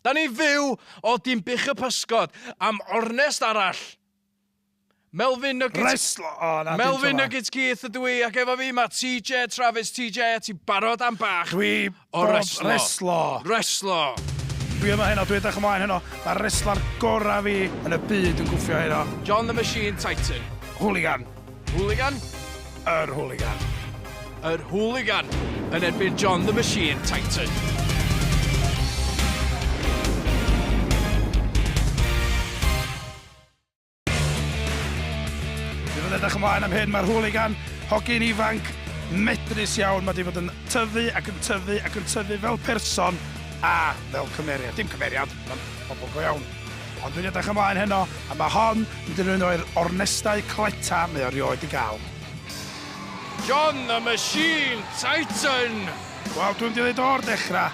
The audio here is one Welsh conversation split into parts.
Da ni'n fyw o dyn bych y pysgod am ornest arall. Melfyn Nuggets... Rest... O, oh, na, Melfyn Nuggets Keith ydw i, ac efo fi mae TJ Travis. TJ, a ti'n barod am bach Dwi o reslo. reslo. Reslo. Dwi yma heno, dwi edrych ymlaen heno. Mae reslo'r gorau fi yn y byd yn gwffio heno. John the Machine Titan. Hooligan. Hooligan? Yr Hooligan. Yr Hooligan yn erbyn John the Machine Titan. Dwi'n fod edrych ymlaen am hyn, mae'r Hooligan hogyn ifanc medrus iawn. Mae wedi bod yn tyfu ac yn tyfu ac yn tyfu fel person a fel cymeriad. Dim cymeriad, mae'n pobl go iawn. Ond dwi'n edrych ymlaen heno, a mae hon yn mynd i fod yn un o'r ornestau cleta mae o rioed 'di gael. John the Machine Tyson! Wel, dwi'm 'di ddeud o'r dechrau,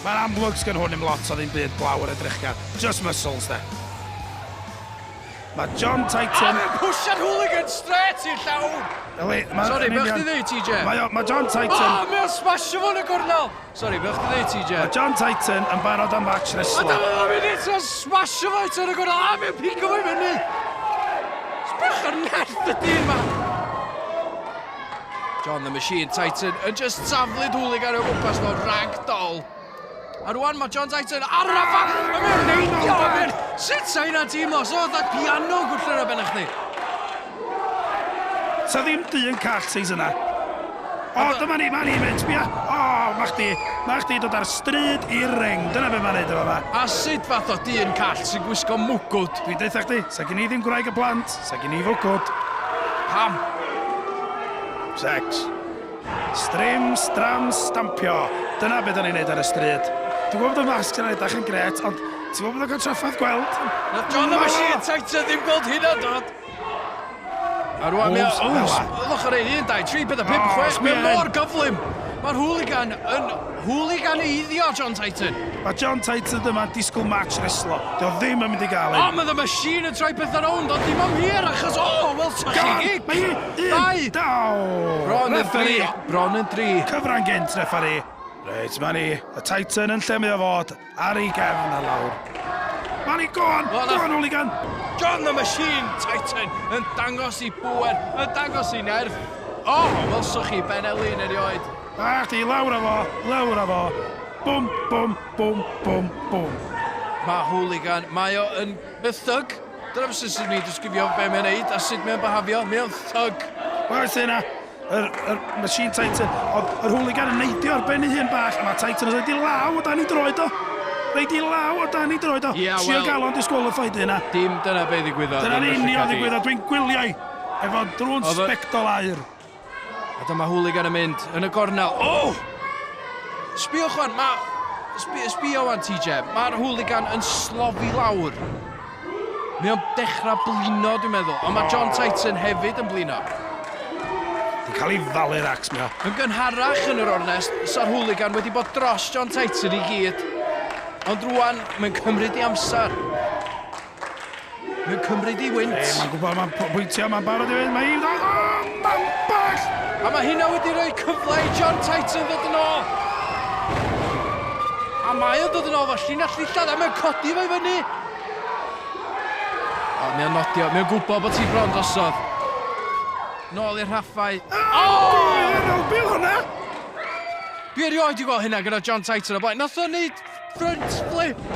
mae'n amlwg sgen hwn i'm lot o ddim byd blaw yr edrych gan, just muscles 'de. Mae John Tyson... A fe'n pwsio'r hooligan strêt i'r llawr! Yli, mae... Sori, be o'ch chdi'n ddeud, TJ? Mae o, mae John Tyson... O, mae o'n smasho fo yn y gornel! Sori, be o'ch chdi ddeud, TJ? Mae John Tyson yn barod am fatch reslo. A dyma fo'n mynd eto, smasho fo eto yn y gorau, a fi'n pico fo i fyny. Sbech o'r nerth y dyn ma. John the Machine Titan yn just taflu dwlig ar y gwmpas fel ragdoll. A rwan mae John Titan ar y fan, a mae'n neidio, a mae'n... Sut sa'i na teimlo, so oedd piano gwrthlera ben eich di? Sa ddim du yn call seis yna. O, dyma ni, ma' ni'n mynd, sbia! O, ma' chdi, ma' chdi dod ar stryd i ring, dyna be' ma'n neud yn fama. A sut fath o du yn call sy'n gwisgo mwgwd? Dwi'n deutha chdi, sa gin i ddim gwraig a plant, sa gin i fwgwd. Pam? Sex. Strim, stram, stampio, dyna be' 'dan ni'n neud ar y stryd. Dwi'n gwbod bod y masg sy'n edach yn grêt, ond ti'n gwbod bod o'n cael traffarth gweld? Nath John a Machine Tighter ddim gweld hynna, dad! A rwan mae o... Ylwch ar ei un, dau, tri, pedwar, pum, oh, chwech. Mae mor gyflym. Mae'r hooligan yn hooligan eiddio John Titan. Mae John Titan dyma yn disgwyl match reslo. Dio ddim yn mynd i gael un. O, mae the machine yn troi pethau rownd, ond dim am hir achos... O, oh, wel, ta chi gig. Mae un, dau. Daw. Bron yn dri. Bron yn dri. Cyfran gynt, refari. Reit, mae ni. Y Titan yn lle mae o fod. Ar ei gefn a lawr. Mari, go on! Go on, hooligan! John the Machine Titan yn dangos i bŵer, yn dangos i nerth. O, welsoch chi Ben Elin erioed. A chdi, lawr a fo, lawr a fo. Bwm, bwm, bwm, bwm, bwm. Mae hooligan, mae o yn y thug. Dyna beth sy'n sy'n mi disgrifio be mae'n neud a sut mae'n byhafio. Mae o'n thug. Wel, sy'n na. Yr, yr machine Titan. Ond yr hooligan yn neidio ar ben ei hun bach. Mae Titan yn rhaid i law o dan i droed o. Rhaid i law o dan i droed o. Yeah, Trio well, gael o'n disgwalified yna. Dim dyna be ddigwyddodd. Dyna'n union ddigwyddodd. Dwi'n gwylio i. Efo drwn spectol air. A dyma hooligan yn mynd yn y gornel. Oh! Sbio chwan, mae... Sbio, sbio wan, TJ. Mae'r hooligan yn slofi lawr. Mae o'n dechrau blino, dwi'n meddwl. Ond mae John Tyson hefyd yn blino. Ti'n cael ei falu'r acs, mae o. Yn gynharach yn yr ornest, sa'r hwligan wedi bod dros John Tyson i gyd. Ond rwan, mae'n cymryd i amser. Mae'n cymryd i wynt. Hey, mae'n gwybod, mae'n pwyntio, mae'n barod i fynd, mae hi'n... Oh, mae'n bell! A mae hynna wedi rhoi cyfle i John Tyson ddod yn ôl. A mae o'n dod yn ôl fel llinell ddillad a mae'n codi fe fyny. O, mae o'n nodio. Mae o'n gwybod bod ti bron drosodd. Nôl i'r rhaffau. O! Rhyw bil hwnna! Dwi erioed wedi gweld hynna gyda John Titan o blaen. Nath o'n neud front flip.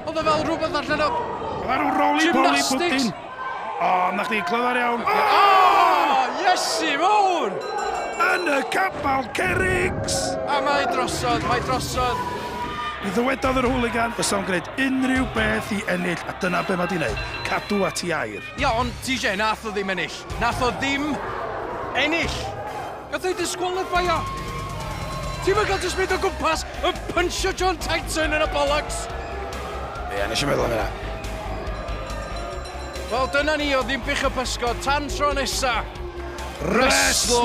Oedd o fel rhywbeth allan o... Oedd rhyw roli boli bwtyn. O, na chdi, clyfar iawn. O! O! Iesu mowr! Yn y capal cerrigs! A mae drosodd, mae drosodd. Mi ddywedodd yr hooligan fysa fo'n gwneud unrhyw beth i ennill, a dyna be mae di wneud, cadw at i air. Ia, ond TJ, nath o ddim ennill. Nath o ddim ennill! Gath ei disqualifio! Ti'm yn cael jyst mynd o gwmpas yn pynsio John Titan yn y bollocks! Ie, nes i meddwl am hynna. Wel, dyna ni o Ddinbych y Pysgod, tan tro nesa! Wrestlo!